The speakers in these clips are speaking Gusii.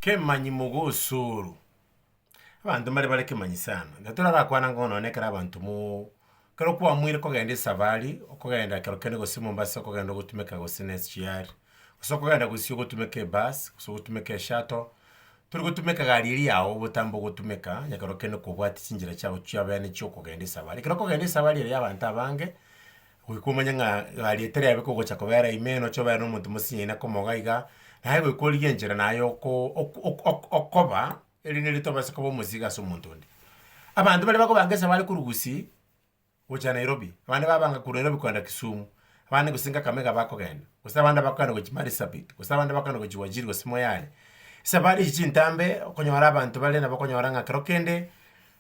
Kemanyi mogosooru. Abanto mbare bare kemanyi sana. Ekero torarakwana ng'o nonye ekero abanto mo ekero kwamoire kogenda esafari, okogenda ekero kende gose Mombasa okogenda ogotumeka gose ne SGR, gose okogenda gose ogotumeka ebus, gose ogotumeka eshuttle, tori gotumeka egari eria yao obotambe ogotumeka, onye ekero kende kobwati chinchera chiago chiabene chiokogenda esafari. Ekero okogenda esafari eye y'abanto abange, Goika omanye ng'a gariete riaye biko ogocha kobera ime, e nocha obere nomonto mosinyaina komoga iga, naye goika origie enchera naye oko ok ok ok okoba, erinde ritobase koba omosigo ase omonto onde. Abanto baria bakobanga esaba are korwa Gusii gocha Nairobi, abande babanga korwa Nairobi kogenda Kisumu, abande gose Kakamega bakogenda, gose abande bakogenda gochia Marsabit, gose abande bakogenda gochia Wajir gose Moyale. Esabari echi chintambe, okonyora abanto bare nabo okonyora ng'a kero kende,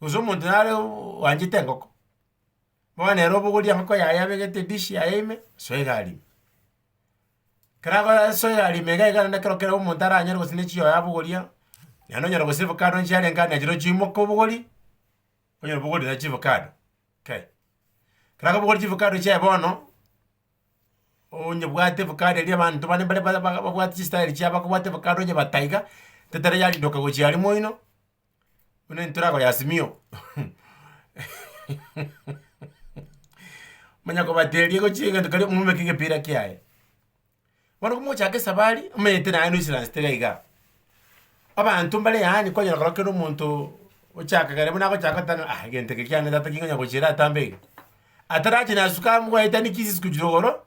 Gose omonto nare oanchete engoko, bono ere obogorie engoko yaye abegete edish yaye ime, soe egari ime. Ekero akoba soe egari ime iga iga naende ekero kera omonto aranyare gose ne chihoho yabogoria, naende onyora gose evocado nchiarenge ande nachire ochimoka obogori, onyora obogorire naende chiavocado kai. Ekero akobogori chiavocado chiaye bono, onyebwate evocado eria abanto bane mbare ba- ba- babwate chistyle chiabo bakobwate evocado onyebataa iga, tetera yarindoka gochia aria moino. Buna intwe rago ya simio manya kobateria gochia egento kare omobeke egepira kiaye. Bono komochaka esabari, omanyete naye no insurance tera iga. Abanto mbare yaani kwanyora korwa kera omonto ochaka kare buna agochaka oteba ng'a egento eke kiane tata ki nkonya gochia eratambe iga. Atarachi nasuka amu gwaetani ki ase esiko chire igoro.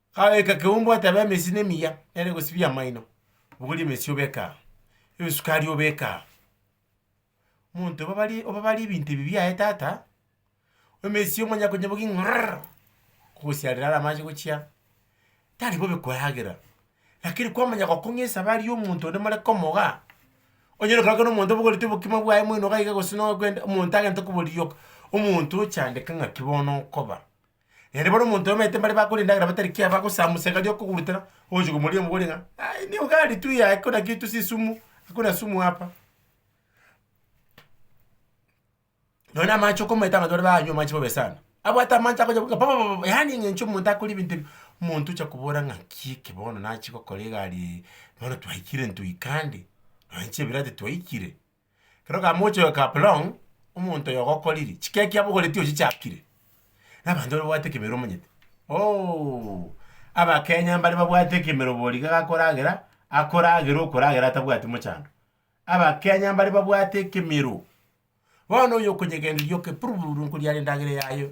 Gabeeka ekeumbu ate abe emesina emiya, ere gosibia amaino, bogoria emesio obeke aa, ebesukari obeke aa. Monto obabari obabari ebinto ebi biaye tata, emesio omanya konya bogi ng'rrrr, kogosiarera are amache gochia, tari bobe koyagera, lakini kwamanya gokong'a esabari ya omonto onde more komogaa, onyare gokorokera omonto obogorete obokima bwaye moino gaiga gose nokwenda omonto agente koborigia omonto ochandeka ng'aki bono okoba. Naende bono omonto omanyete mbare bakoria endagera batari ki abagosamusa egari okogurutera, ogochi komoria omogore ng'a aye nigo gari tu yaye hakuna kitu si sumu, hakuna sumu hapa. Nonya na amache okomaete abanto bare baanywa amache bobe sana, abwate amache akocha goika popopopo yaani ng'a enche omonto akore ebinto ebi, omonto ocha kobora ng'aki eke bono nachi gokora egari eye, bono twaikire ntoikande, nonya chibirati twaikire. Ekero kamocha oyo Kaplong, omonto oyo ogokoriri, chikeki abogoreti ochichakire, na abanto babwate ekemero omonyete. Ooh, Abakenya mbare babwate ekemero boriga gakoragera, akoragera okoragera atabwati mochando. Abakenya mbare babwate ekemero. Bono oyo okonyegenderia oke purururu nkoriara endagera yaye.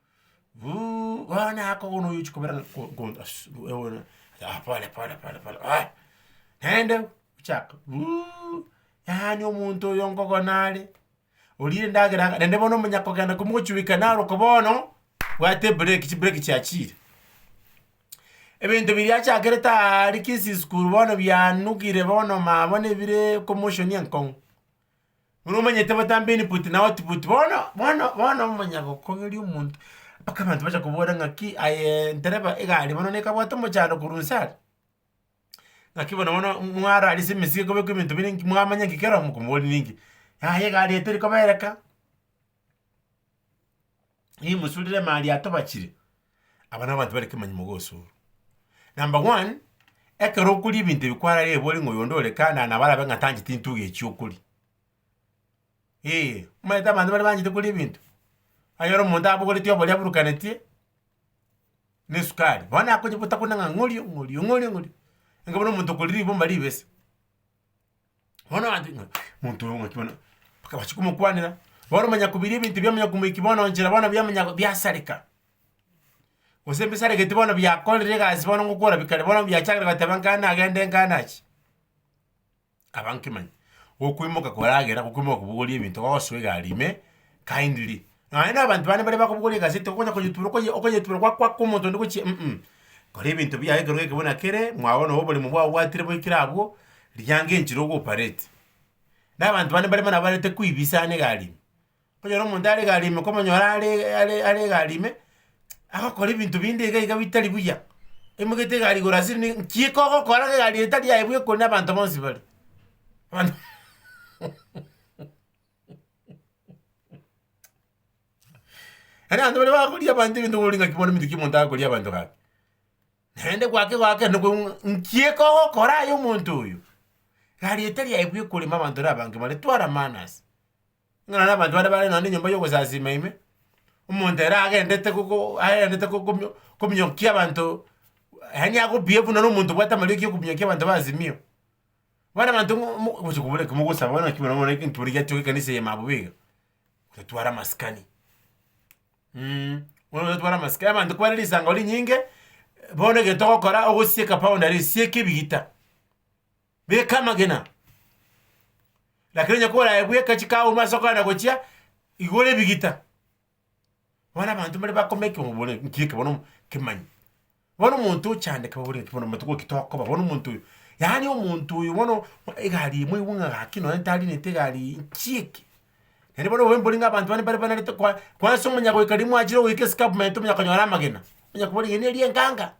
Uuh bono nako bono oyochi kobera ng'a ko ko ass ewono ah pole pole pole pole ah naende ochaka uuh yaani omonto oyo nkogone are, orire endagera ang'e naende bono omonyakogenda ko mogochureka naro oko bono, bwate ebreki chibreki chiachire. Ebinto biria achakerete aaria kisisikuru bono bianugire bono mambone bire commotion enkong'u. Buna omanyete botambe input na output bono bono bono omonyagokogeria omonto mpaka abanto bacha kobora ng'aki aye ntereba egari bono nekabwate omochando korwa inse aria, ng'aki bono bono mwara aria ase emesigo ekobekwa ebinto bire inki mwamanya inki keromo komoboria ninki, yaya egari eye teri kobereka. nimusurire mali atobachire, aba nabanto bare kemanyi mogosurwa. Number one, ekero okoria ebinto ebi kwararire ebori ng'a oyonde ore kando, nabo arabe ng'a tancheti intwe iga echi okoria. Eeh, omanyete abanto bare banchete koria ebinto, aye ore omonto abogoreti oboria aburukanetie na esukari, bono nakonya gotakuna ng'a ng'orio ng'orio ng'orio ng'orio, enga buna omonto okoria ribomba ribese. Bono abanto ng'a omonto oyo ng'aki bono, mpaka bache komokwanera. Bono omonyakobiria ebinto bia omonyakomokia bono nchera bono bia omonyakobi biasareka, gose mbisaregeti bono biakorire egasi bono ngokora bi kare bono biachakire goteba nkae nagende nkae nachi, kaba nkimanye, gokoimoka koragera gokoimoka kobogoria ebinto gosoa egari ime kindly Naende nabanto bane baria bakobogoria egaseti okonya koyetubera okoyetubera gwa kw'omonto onde gochia mm Kora ebinto biaye ekero geke buna kere, mwabo nabo oborimo bwabo bwatire boikire abwo, riango enchera ogo operate. Nabanto bane mbarimo nabarete kwibisa ane egari ime. Okonyora omonto are egari ime komonyora are are are egari ime, agokora ebinto binde iga iga bitari buya, emogete egari igoro ase ime nki kogokora gose egari etari yaye bweka ore nabanto bonsi bare. Yaani abanto baria bakoria abanto ebinto bori ng'aki bono ominto ki omonto akoria abanto gaki? Naende gwake goaka noko nki ekogokora aye omonto oyo? Iga rieta riaye bwe ekorema abanto na abange bare twara manners. Buna nonye abanto baria bare nonye enyomba y'ogosasima ime, omonto ere agendete gogo aendete gokumia kominyokia abanto yaani agobehave naro omonto obwate amarioki ya okominyokia abanto ba Azimio. Bono abanto ng'o mo gocha kobora ekero mogosaba bono naki buna bono enkabira giachoka ekanisa eye mambia bobe iga, otware amasikani bono otware amasikani abanto kobare risango rinyinge, bono egento ogokora ogosieka powder sieka ebigita, beka amagena, lakini onye kore aye bweka chikago ase okogenda gochia, igora ebigita. Bono abanto mbare bakome ekebobore nki eke bono kemanyi. Bono omonto ochande ekebobore eke bono amatuko ki tokoba bono omonto oyo. Yaani omonto oyo bono egari eye mwaigwa ng'a gaki nonye tarinete egari eye nki eke. Naende bono obobe mbore ng'a abanto bande mbare banarete kwa kwansa omonyagoika riria mwachire goika escarpment omonya konyora amagena, onya kobora eyio neri enganga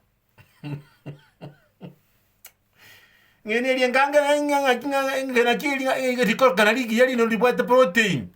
eyio neri enganga naende ng'a ng'aki ng'a ng'a engena keri ng'a rikoroka narigiya rinde ribwate protein.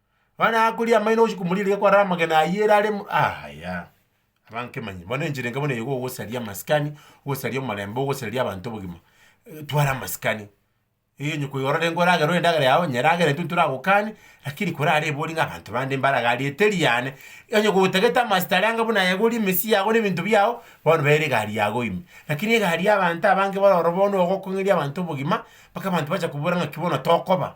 Bono nakoria amaino bosio komorigereria kwarara amagena ayio ere aremo yaya, abankemanyi bono enchera enke bono eye gogosaria amasikani, gosaria omorembe, ogosaria abanto obogima, tware amasikani, eeh onye koigoro renge oragerwe endagera yago onye eragere intwe ntoragokani, lakini korara ebori ng'a abanto bande mbare iga rieta eriane, onye gotagete amasita aria anga buna egori emesii yago na ebinto biago, bono bera egari yago ime. Lakini egari ya abanto abange baroro bono ogokong'eria abanto obogima, mpaka abanto bacha kobora ng'aki bono tokoba.